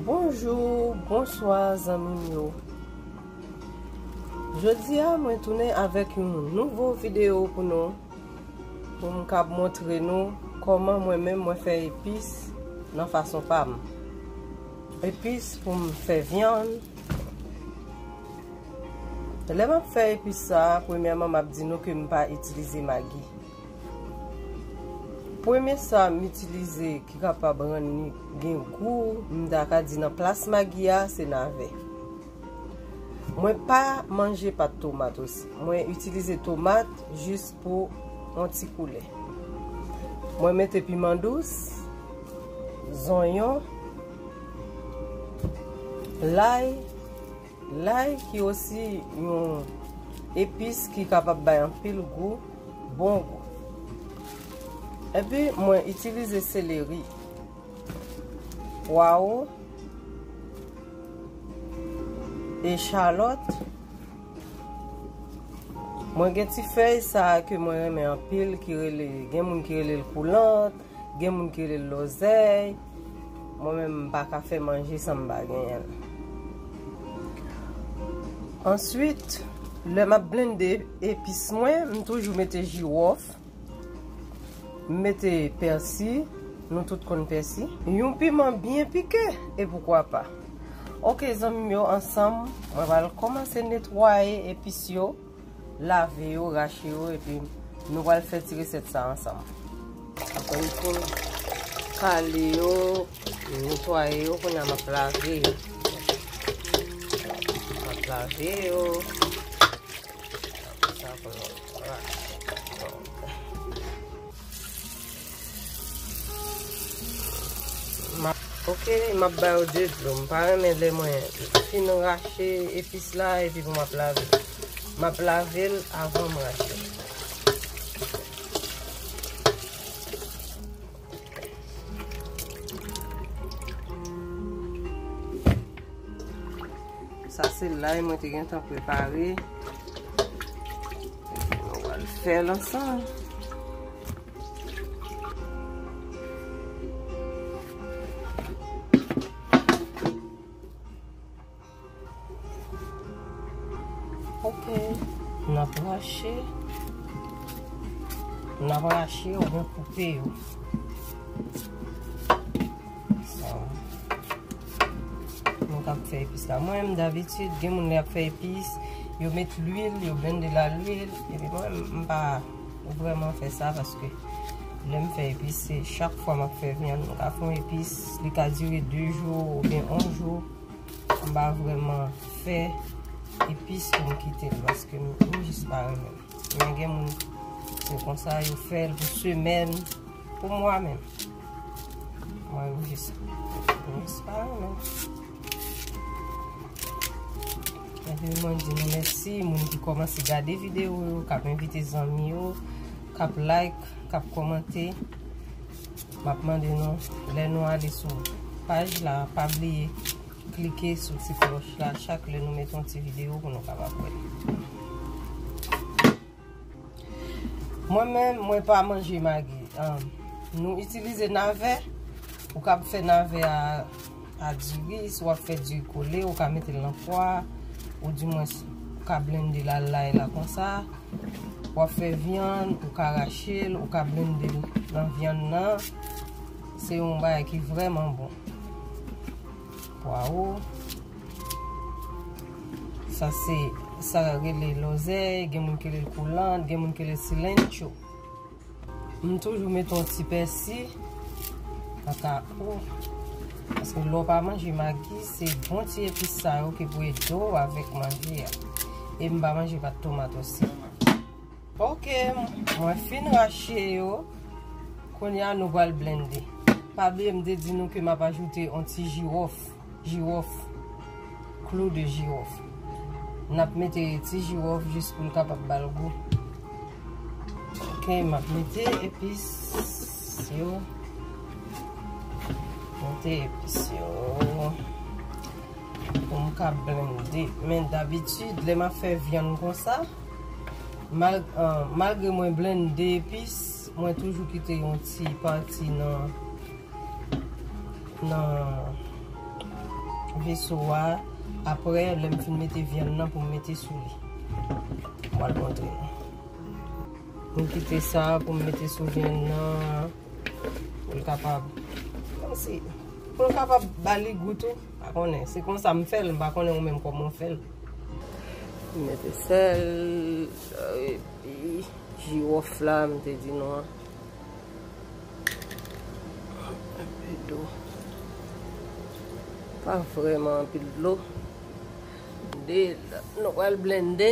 Bonjou, bonswa zanmim yo Jodi a mwen tounen avèk yon nouvo video pou nou Pou m kab montre nou kòman mwen menm mwen fè epis nan fason pa m Epis pou m fè vyann Lè map fè epis sa a premyèman map di nou ke m pa itilize magi. Premye sa m itilize ki kapab rann li gen gou m ta ka di nan plas magi a se nave. Mwen pa manje pat tomat osi. Mwen itilize tomat jis pou yon ti koulè. Mwen mete piman dous, zonyon, lay. Lay ki osi yon epis ki kapab bay anpil gou, bon gou. Epi mwen itilize seleri, pwawo, echalòt. Mwen gen ti fèy sa ke mwen renmen anpil ki rele, gen moun ki rele l koulant, gen moun ki rele l lòzèy. Mwen menm m pa ka fè manje san m pa genyen l. Answit, lè m ap blende epis mwen, m toujou mete jiwòf, m mete pèsi, nou tout konn pèsi. Yon piman byen pike, e poukwa pa. Ok zanmi m yo, ansanm mwen pral kòmanse netwaye epis yo. Lave yo, rache yo epi nou pral fè ti resèt sa ansanm. Ankò yon fwa, kale yo, netwaye yo, kounye a m ap lave yo. M ap lave yo. Ok, m ap ba yo 2 dlo. M pa renmen lè mwen fin rache epis la epi pou m ap lave. M ap lave l avan m rache. Sa se lay mwen te gen tan prepare. Mwen wale fè l ansan. Ok, n ap rache. N ap rache ou gen koupe yo. Mwen kap fè epis la. Mwen m davitud gen moun li ap fè epis. Yo met lwil, yo blende la lwil. Epi mwen m pa... Ou vreman fe sa paske lem fe epis se chak fwa map fe vyann mwen ka fon epis li ka dire 2 jou ou byen 1 jou m pa vreman fe epis pou m kite l paske m jis pa renmen men gen moun se konsa yo fel pou semen Pou mwa menm. Mwen ou jis. Mwen espa ou menm. Mwen di mwen mèsi. Mwen di koman si gade video ou. Kap invite zanmi ou. Kap like. Kap komante. Mwen ap mande nou. Lè nou ale sou page la. Pa bliye. Klike sou ti kloch la. Chak lè nou met yon ti video. Pou nou kap ap wè. Mwen menm mwen pa manje magi. Nou itilize nave, ou kab fè nave a diri, si wap fè diri kole, ou ka mete lan fwa, ou di mwen ka blende la lay la konsa, wap fè vyan, ou ka rache, ou ka blende lan vyan nan, se yon bay ki vreman bon. Pwawo. Sa se, sa yo rele lòzèy, gen moun ki rele l koulant, gen moun ki rele l silentcho. M toujou mete yon ti pèsi. Ata ou. Paske lè w pa manje magi, se bon ti epis sa yo ki pou ede w avèk manje a. E m pa manje pat tomat osi. Ok mwen fin rache yo Kounya nou pral blende Pa bliye m te di nou ke m ap ajoute on ti jiwof Jiwof Klou de jiwof N ap mete ti jiwof jis pou l kapab ba l gou Ok m ap mete epis yo Mete epis yo Pou m ka blende Men dabitid lè m ap fè vyann konsa Malgre mwen blende epis, mwen toujou kite yon ti pati nan veso a. Apre, lè m fin mete vyann nan pou m mete sou li. M al montre nou. Mwen kite sa pou m mete sou vyann nan. Pou l kapab. Pou l kapab ba li gou tou. Pa konnen. Se konsa m fè l. M pa konnen ou menm kòman w fè l. M mete sèl. Epi jiwòf la m te di nou an. Anpe dlo. Pa vrèman anpil dlo. Nou pral blende.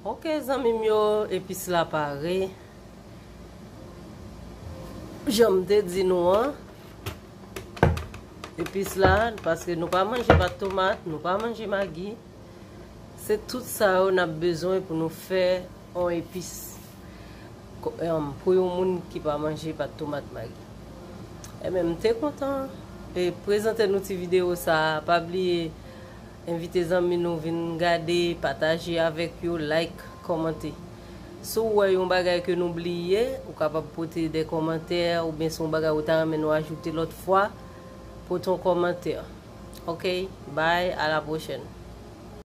Ok zanmim yo epis la pare janm te di nou an epis la paske nou pa manje pat tomat nou pa manje magi se tout sa yo nap bezwen pou nou fè yon epis pou yon moun ki pa manje pat tomat magi ebyen m te kontan prezante nou ti video sa pa bliye Envite zanmi nou vin gade, pataje avèk yo, like, kòmante. Si w wè yon bagay ke nou bliye, ou kapab pote de kòmantè oubyen si yon bagay ou ta renmen nou ajoute lòt fwa, pote yon kòmantè. Ok, bye, a la pwochèn.